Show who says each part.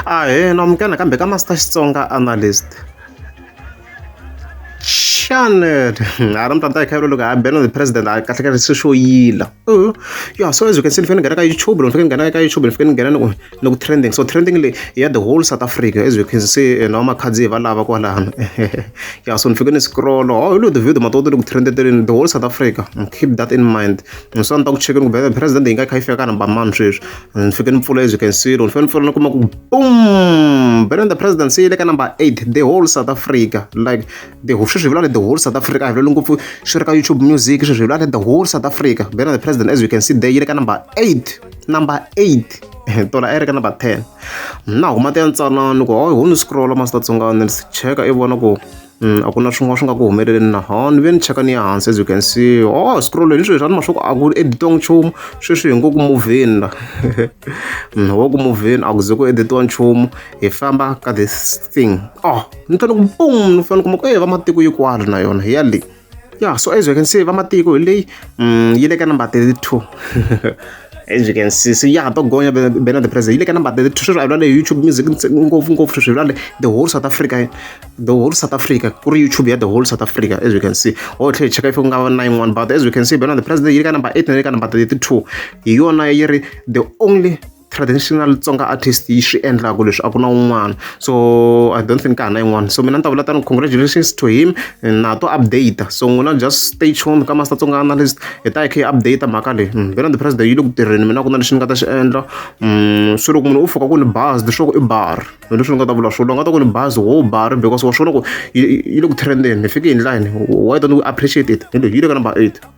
Speaker 1: Ahee amukeleka kambe ka Master Xitsonga Analyst channel ha ri mutanda hi khayelo loko ha bela the president a kahle kahle se swo yila uh-huh. ya so as you can see ni fanele ni nghena ka youtube loko ni fanele ni nghena ka youtube ni fanele ni nghena ni ku trending so trending leyi ya the whole south africa as you can see eh, na vamakhandziyi va lava kwalano ya so ni fike ni scroll oh hi lo the video matoto ni ku trendeteleni the whole south africa keep that in mind so ni ta ku chekeni ku bela president yi nga kha yi fika ka number mani sweswi ni fike ni pfula as you can see ni fike ni pfula ni kuma ku boom Benin the presidency yi le ka number 8 the whole south africa like the whole sweswi hi vula the whole south africa a hi vuleli ngopfu swi ri ka youtube music sweswi hi vula the whole south africa Benin the president as you can see there yi le ka number 8 number 8 tola a yi ri ka number 10 na huma ti ya ntsanani ku hayi ho ni scrolla masitatsongani ni cheka i vona ku a ku na swin'wana swi nga ku humeleleni na ha ni ve ni cheka ni ya hansi as you can see o scroll ni sweswi a ni ma swa ku a ku editong nchumu sweswi hi ngo ku movheni la wo ku movheni a ku ze ku editiwa nchumu hi famba ka this thing o ni fanele ku boom ni fanele kuma ku e va matiko yi kwala na yona hi ya le Yeah, so as you can see, vamatiko hi leyi mm, yi le ka number 32. as you can see so yeah to gonya bena the president ile kana but the treasure a le youtube music ngopfu ngopfu treasure le the whole south africa the whole south africa ku ri youtube ya the whole south africa as you can see o tlhe cheka if nga 91 but as you can see bena the president ile kana number 8 na ile kana number 32 hi yona yi ri the only traditional tsonga artist yi swi endlaka leswi a ku na un'wana so i don't think ka ha na yin'wana so mina ni ta vula tani congratulations to him na to update so n'wina just stay tuned ka master tsonga analyst hi ta hi kha hi update mhaka leyi mm, bela the president yi le ku tirheni mina ku na lexi ni nga ta xi endla mm, swi loko munhu u fika ku ni baz leswaku i bar hi leswi ni nga ta vula swona nga ta ku ni baz wo bar because wa swi vona ku yi yi le ku trendeni hi fike hi ndlani why don't we appreciate it hi leyi yi le ka number eight